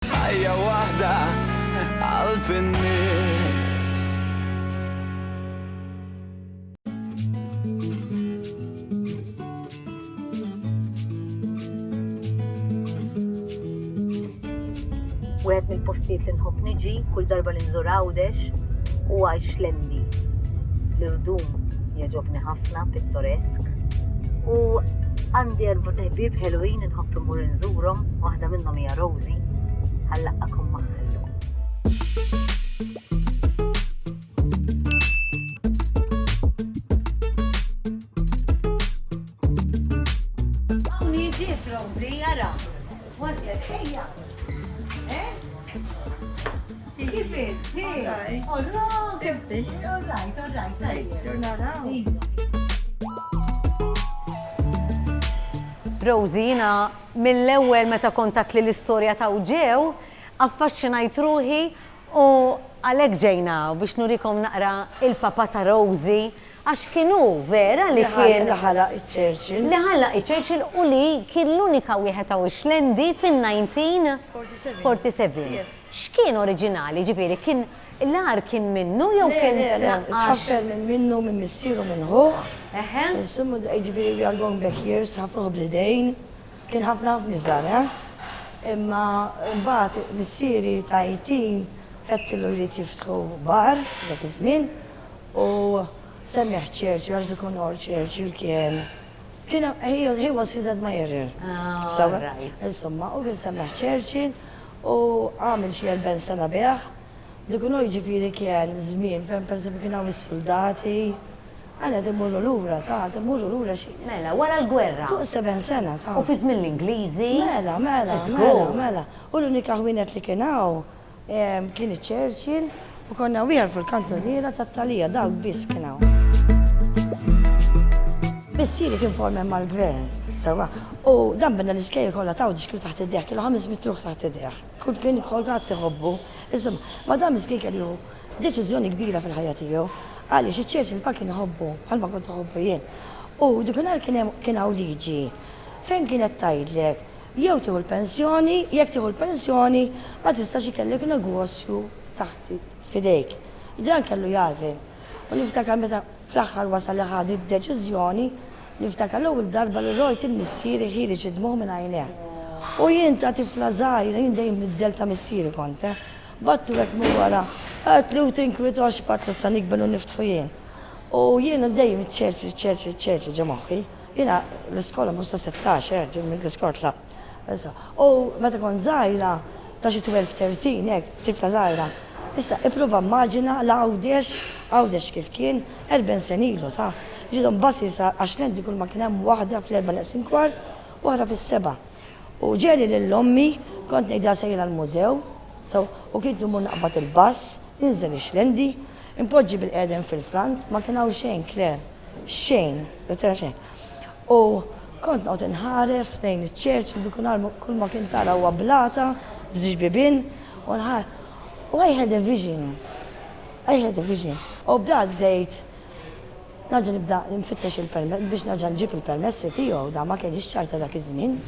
Ħajja waħda qalb in-nies. Wieħed mill-postijiet li nħobb niġi kull darba li nżur Għawdex u għajx lendi. L-irdum jogħġobni ħafna pittoresk u għandi erba' teħbib ħelwin Nħobb immur inżurhom, waħda minnhom hija Rosie, għal laqgħakom magħha llum. Rosie, jiena mill-ewwel meta kont għedtli l-istorja ta' Ġew, affaxxinajt ruħi u għalhekk ġejna hawn biex nurikom naqra il-papà ta' Rosie għax kien hu vera li kien Li ħalaq iċ-Churchill. Li ħalaq iċ-Churchill u li kien l-unika wieħed Awixlendi fin-1947. X'kien oriġinali, jiġifieri kien l-għar kien minnu jew kien tnaqqax? Le, le, le, tħaffel minn minnu, minn missieru, minn ħuh. Eħe. Insomma, jiġifieri we are going back years, ħa fuħ bl-idejn. Kien ħafna ħafna iżgħar, eh? Imma mbagħad missieri ta' 18 fettillu jrid jiftħu bar dak iż-żmien u semmieh Churchill għax dik unor Churchill kien kien he was his admirer. Ah, right. Insomma, u kien semmieh Churchill u għamel xi erbgħin sena bih, dikunu jiġifieri kien żmien fejn pereżempju kien hawn is-suldati, għana qed immorru lura, ta' qed immorru lura xi. Mela, wara l-gwerra. Fuq sebgħin sena, ta'. U fi żmien l-Ingliżi. Mela, mela, mela, mela. U l-unika ħwienet li kien hawn kien iċ-Churchill, U konna wieħed fil-kantuniera tat-Talija dawk biss kien hawn. Missieri kien formen mal-gvern, sewa, u dan binna l-iskejl kollha taw ġiskil taħt id-deħ, kienu ħames mitruħ taħt id-deħ. Kull kien kolgat tiħobbu. Iżom, ma dan miskien kien ju deċiżjoni kbira fil-ħajja tiegħu. Għaliex iċ-ċerċ il-pa kien iħobbu, bħalma kont iħobbu jien. U dikinhar kien hawn liġi fejn kienet tgħidlek Jew tieħu l-pensjoni, jekk tieħu l-pensjoni ma tistax ikellek negozju taħt f'idejk. Dan kellu jagħżel. U niftakar meta fl-aħħar wasal li ħa d-deċiżjoni, niftakar l-ewwel darba li rajt il-missieri ħiereġ id-dmugħ minn għajnejh. U jien ta' tifla żgħira, jien dejjem middel ta' missieri kont, eh. Battu hekk minn wara, għedtli u tinkwitax, battu sa nikber u niftħu jien. U jiena dejjem iċċerċi, iċċerċi, iċċerċi ġo moħħi. Jiena l-iskola mhux se sittax, eh, ġieli mill-diskors la. Issa, u meta kont żgħira, ta' xi twelve, thirteen, hekk, tifla żgħira. Issa, ipprova immaġina l-Għawdex, Għawdex kif kien, erben sen ilu, ta'. Ġiethom buses għax l-Għendi kull ma kien hemm waħda fl-erbgħa neqsin kwart, u oħra fis-sebgħa. U ġieli lil ommi, kont ngħidilha sejra l-mużew, sew, u kienet immur naqbad il-bus, ninżel ix-xlendi, inpoġġi bil-qegħdem fil-front, ma kien hawn xejn, Claire. Xejn, ma tara xejn. U kont noqgħod inħares lejn iċ-ċerċ li dikun għal kull ma kien tara huwa blata b'żewġ bibien u nħar u I had a vision. I had a vision. U b'dak bdejt nerġa' nibda nfittex il-permess biex nerġa' nġib il-permessi tiegħu da ma kienx ċar ta' dak iż-żmien.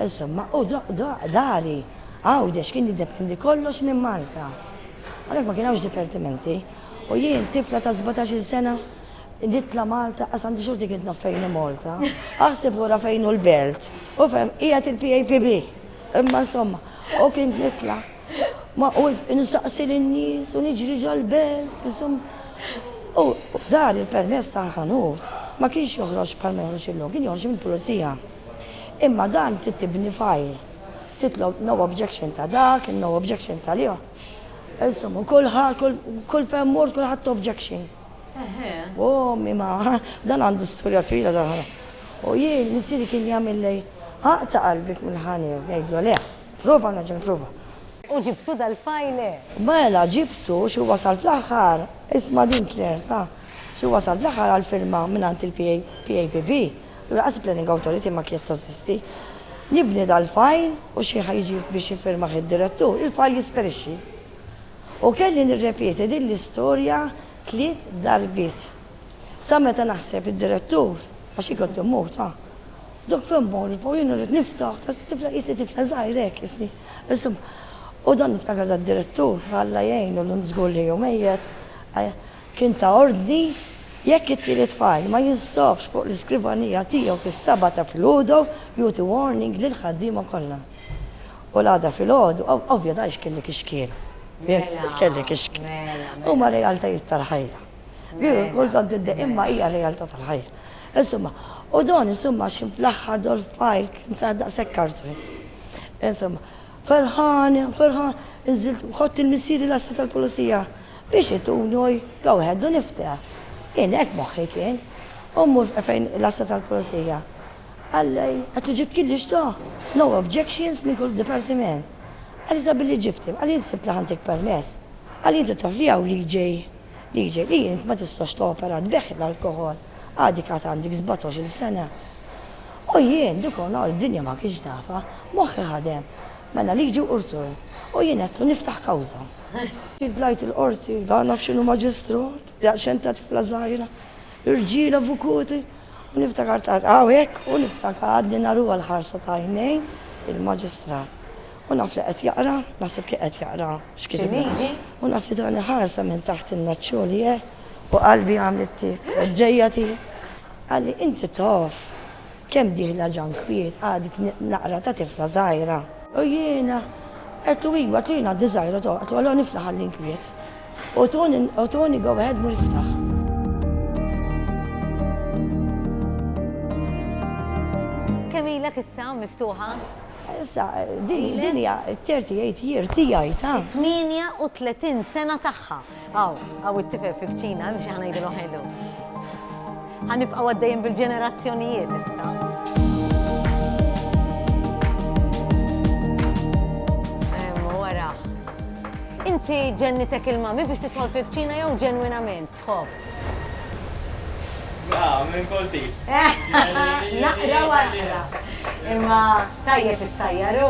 Insomma, u dari Għawdex kien jiddependi kollox minn Malta. Għalhekk ma kien hawnx dipertimenti. U jien tifla ta' sbatax-il sena Ġiet la Malta, qas għandi xorti kien naf fejn hi Malta. Aħseb wara fejn hu l-belt. U fem, qiegħed il-PAPB. Imma insomma, u kien nitla. Ma u nistaqsi lin-nies u niġri ġal-belt, insomma. U dar il-permess ta' ħanut ma kienx joħroġ bħal ma joħroġ illum, kien joħroġ mill-pulizija. Imma dan trid tibni fajl. Titlob no objection ta' dak, no objection ta' liħ. Insomma, kull kull fem mort kull ħadd objection. Eħe. O ommi ma dan għandu storja twila dan ħana. U jien missieri kien jagħmilli aqta' qalbek mill-ħanija u ngħidlu le, prova nerġa' nipprova. U ġibtu dal-file? Mela ġibtu xi wasal fl-aħħar, isma' din Claire ta', xi wasal fl-aħħar għall-firma mingħand il-PAPB, u lanqas il-Planning Authority ma kienet tożisti. Nibni dal-file u xi ħa jiġi biex jiffirmah id-direttur, il-file jisperixxi. U kelli nirrepeti din l-istorja tliet darbiet. Sa meta naħseb id-direttur, għax hi kont immut, ah! Dok fejn morru fuq jien irrid niftaħ, tifla qisni tifla żgħira hekk qisni. Insomma, u dan niftakar dad-direttur, Alla jgħinu llum żgur li hu mejjet, kien ta ordni jekk it-tielet fajl ma jinstabx fuq l-iskrivanija tiegħu fis-seba' ta' filgħodu jugħti warning lill-ħaddiema kollha. U l-għada filgħodu, ovvja dan x'kelli kif x'kien. Mela. X'kelli kif x'kien. Mela, mela. Huma realtajiet tal-ħajja. Veru, mela, kull tant id imma hija realtà tal-ħajja. Insomma, u don insomma xi fl-aħħar dol fajl kien ta' daqshekk kartun. Insomma, ferħan, ferħan, inżilt ħott il-missieri l-assu tal-pulizija biex itunoj go ahead u nifteħ. Jien hekk moħħi kien. U mur fejn l-assu tal-pulizija. Alla qed u ġibtki li xtaqt. No objections minn kull dipartiment. Għaliex sa billi ġibtni, għaliex int sibt li ħantik permess? Għaliex int u taf li hawn liġej, liġej li int ma tistax topera tbeħħi l-alkoħol, għadek għad għandek sbatox-il sena. U jien, dik u nhar id-dinja ma kienx nafha, moħħi ħadem. Mela liġi u rtur. U jien għedtlu niftaħ kawża. Jien tlajt il-Qorti, la naf x'inhu maġistrat, daqsxejn ta' tifla żgħira. Irġiel avukuti, u niftakart għad hawnhekk u niftakar għadni naruha l-ħarsa ta' għajnejn il-Maġistrat. U naf li qed jaqra, naħseb kien qed jaqra x'kitibna. Xi liġi? U naf li tani ħarsa minn taħt in-naċċoli hekk u qalbi għamlet tik, ġejja tiegħi. Qalli, Inti taf. Kemm dieħla Ġan kbier, għadek naqra ta' tifla żgħira. U jien għedtlu iwa, għedtlu jien għaddi żgħira toh, għedtlu allura nifla ħalli nkwiet. U tuni go ahead mur iftaħ. Kemm ilek issa miftuħa? Issa din hija 38 year tiegħi ta'. 38 sena tagħha. Aw, aw it-tifel fi kċina, imxi ħanajdilu ħelu. Ħanibqaw għaddejjin bil-ġenerazzjonijiet issa. Inti ġennitek il-mami biex titħol fi kċina jew ġenwinament tħobb? Ah, minn kolti. Naqra wara. Imma tajjeb is-sajjaru.